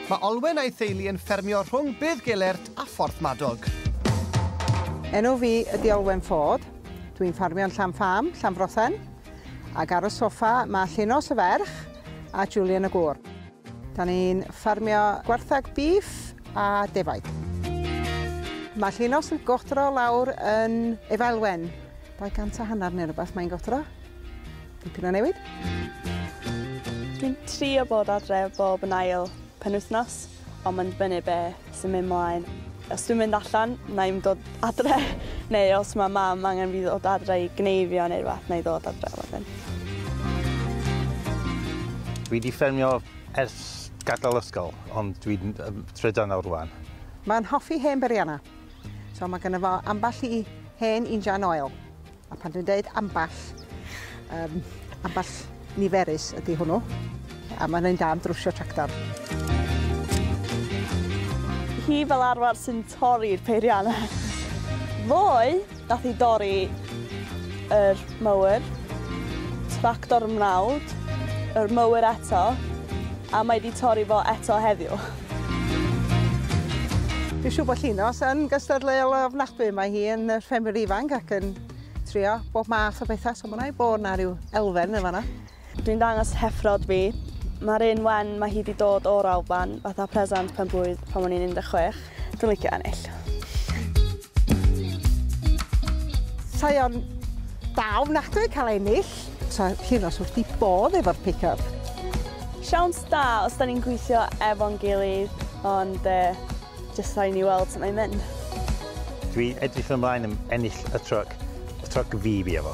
Mae Olwen a'i theulu yn ffermio rhwng Bydd Gelert a Phorth Madog. Enw fi ydy Olwen Ford. Dwi'n ffarmio'n Llan Fam, Llanfrothen. Ac ar y soffa mae Llinos y ferch a Julian y gŵr. Da ni'n ffarmio gwarthag bîff a defaid. Mae Llinos yn godro lawr yn Efaelwen. 200 hanner neu rhywbeth mae'n godro. Dipyn o newid. Dwi'n trio bod adre bob yn ail penwythnos, ond mae'n dibynnu be sy'n mynd mlaen. Os dwi'n mynd allan, na i'm dod adre, neu os mae mam angen fi ddod adre i gneifio neu rhywbeth, na i ddod adre wedyn. Dwi wedi ffermio ers gadael ysgol, ond dwi'n trydan nawr rwan. Mae'n hoffi hen berianna, so mae gynno fo ambell i hen injan oil. A pan dwi'n dweud ambell, um, ambell niferus ydy hwnnw. A mae'n ein da am drwsio tractor. Hi fel arfer sy'n torri'r peiriannau. Ddoe, dath i dorri yr mower, tractor mrawd, yr mower eto, a mae wedi torri fo eto heddiw. Dwi'n siŵr bod Llinos yn gystadleuol ofnadwy. Mae hi yn ffermwr ifanc ac yn trio bob math o bethau, so mae'n rhaid bod yna rhyw elfen yn fanna. Dwi'n dangos heffrod fi. Mae'r un wen, mae hi wedi dod o'r Alban, fatha presant pen-blwydd pan o'n i'n 16. Dwi'n licio ennill. Mae o'n da ofnadwy cael ennill. Sa Llinos wrth ei bodd efo'r pick-up. Siawns da os 'da ni'n gweithio efo'n gilydd, ond jyst rhaid i ni weld sut mae'n mynd. Dwi edrych ymlaen yn ennill y truck. Y truck fi bia fo.